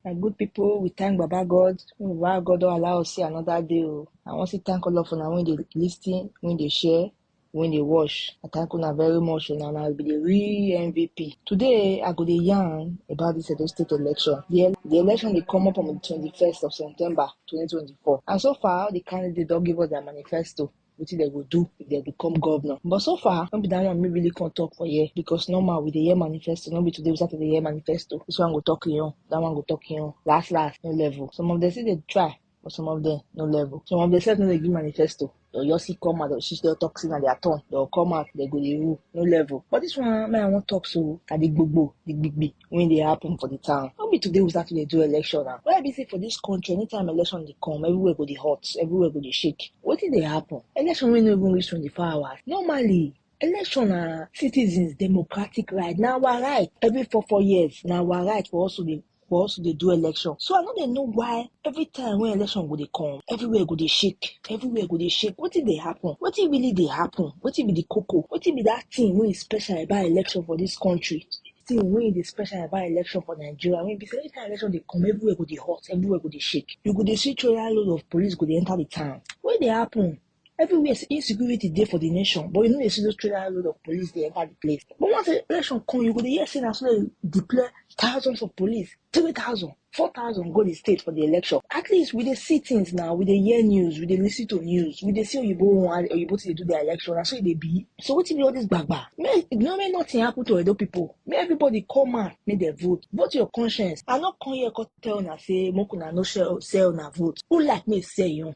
My good people, we thank Baba God. Baba God don't allow us see another day. oh. I want to thank all of una when they listen, when they share, when they watch. I thank una very much. Una na be the real MVP. Today, I go dey yarn about this Edo State election. The, el- the election they come up on the 21st of September 2024. And so far, the candidates don't give us their manifesto. wetin dem go do if dem become governor. But so far, no be that one me really come talk for here because normal we dey hear manifesto, no be today we start to dey hear manifesto. This one go talk im own, that one go talk im own. Last last, no level. Some of them still dey try, but some of them no level. Some of them sef no dey give manifesto. They'll just see come out, they'll see they'll talk in their turn. They'll come out, they go dey rule, no level. But this one, man, I wan talk so, na the gbogbo, the gbigbi. when they happen for the town. How be today we start to dey do election now? Why be say for this country, anytime election they come, everywhere go the hot, everywhere go the shake. What did they happen? Election will no even reach 24 hours. Normally, election na citizens democratic right Now our right every four four years Now our right for also the for us to dey do election so i no dey know why every time when election go dey come everywhere go dey shake everywhere go dey shake wetin dey happen wetin really dey happen wetin be the koko wetin be that thing wey is special about election for this country thing wey dey special about election for Nigeria wey be say anytime election dey come, everywhere go dey hot, everywhere go dey shake. You go dey see troya load of police go dey enter the town. Wey dey happen? Everywhere insecurity dey for the nation but you no dey see those troya load of police dey enter the place. But once election come, you go dey hear say na so dem deploy thousands of police, three thousand. four thousand go the state for the election at least we dey see things now we dey hear news we dey listen to news we dey see oyibo one oyibo to dey do their election na so e dey be so wetin be all this gbagba make no make nothing happen to edo people make everybody come out make dem vote vote your conscience i no come here come tell una say make una no sell sell una vote who like make e sell im own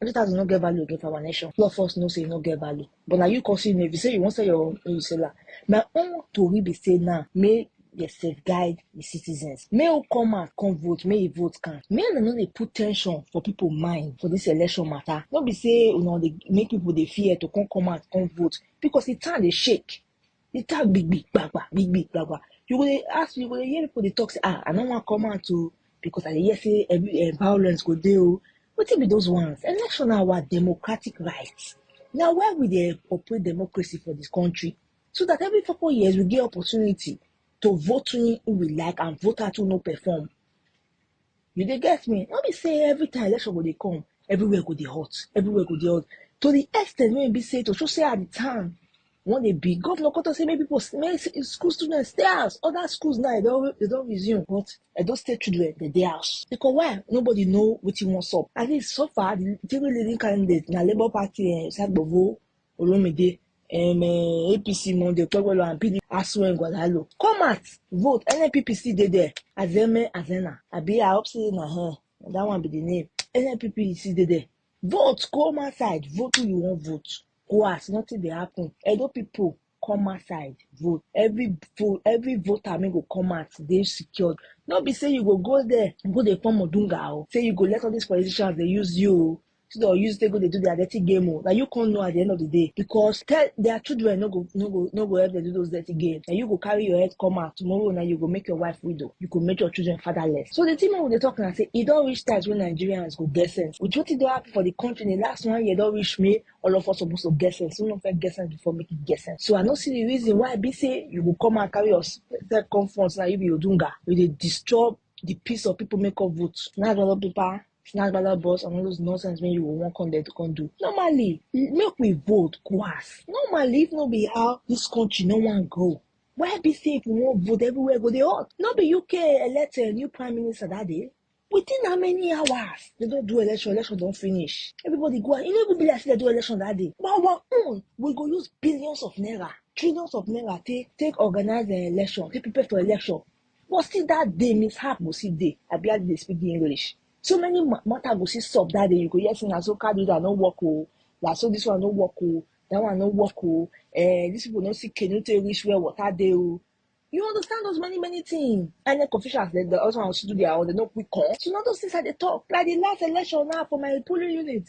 Hundred thousand no get value again for our nation. Law force no say e no get value. But na you consume if you say you wan sell your own, you sell am. My own tori be say now make dey safeguard the citizens. Make who come out come vote, make e vote count. Make dem no dey put tension for people mind for this election matter. No be say una dey make people dey fear to come come out come vote because the town dey shake. You talk big big gbagba, big big gbagba. You go dey ask, you go dey hear people dey talk say, ah, I no wan come out o because I dey hear say every eh, violence go dey o. Wetin be those ones? Election na our democratic right. Na why we dey operate democracy for this country so that every four four years we get opportunity to vote in who we like and vote out who no perform. You dey get me? No be say every time election go dey come, everywhere go dey hot, everywhere go dey hot. To the extent wey e be say to show say at the time when they be governor come talk say make people s- make s- school students stay house. Other schools now they don't they don't resume, but they don't stay children they dey house because why? Nobody know what he wants up. At least so far the three leading candidates na Labour Party and Sagbovo Olumide, um, uh, APC Monday, Okpebholo and PDP Asue Ngwadalo. Come out, vote. NNPP still dey there. Azeme Azena. Abi I hope say na her. That one be the name. NNPP still dey there. Vote, come outside, vote who you want vote. Go as nothing dey happen. Edo people come outside vote every vote every voter make go come out dey secured no be say you go go there go dey form odunga o say you go let all these politicians dey use you o so dem use take go dey do their dirty game o na you come know at the end of the day because tell their children no go no go no go help them do those dirty games na you go carry your head come out tomorrow na you go make your wife widow you go make your children fatherless so the thing wey we dey talk na say e don reach times wey nigerians go get sense with wetin don happen for the country in the last one year don reach me all of us suppose to get sense we no fit get sense before make e get sense so i no see the reason why e be say you go come and carry yourself come front na you be odunga you dey disturb the peace of people make up vote na another paper snatch baba boss and all those nonsense wey you go wan come there to come do normally make we vote go ask normally if no be how this country no wan grow why be say if we wan vote everywhere go dey hot no be uk elect a new prime minister that day within how many hours they don do election election don finish everybody go out e no even be like say they do election that day but our own we go use billions of naira trillions of naira take take organize the election take prepare for election But still that day, mishap go see day. I barely dey speak the English. So many ma- matter go see stop that day. You go hear say na so car do that no work oh. Na so this one no work oh. That one no work oh. Eh, these people no see canoe take reach where water dey oh. You understand those many many things. INEC officials they, they also want to do their own. They no quick come. So now those things I dey talk. Like the last election now for my polling unit.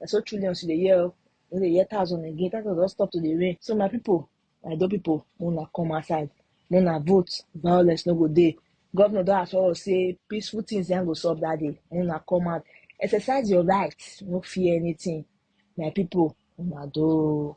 na so trillions you dey hear o you no dey hear thousand again thousand don stop to dey rain so my people my do people make una come outside make una vote violence no go dey governor don assure us say peaceful things yan go solve that day make una come out exercise your right no fear anything my people una do.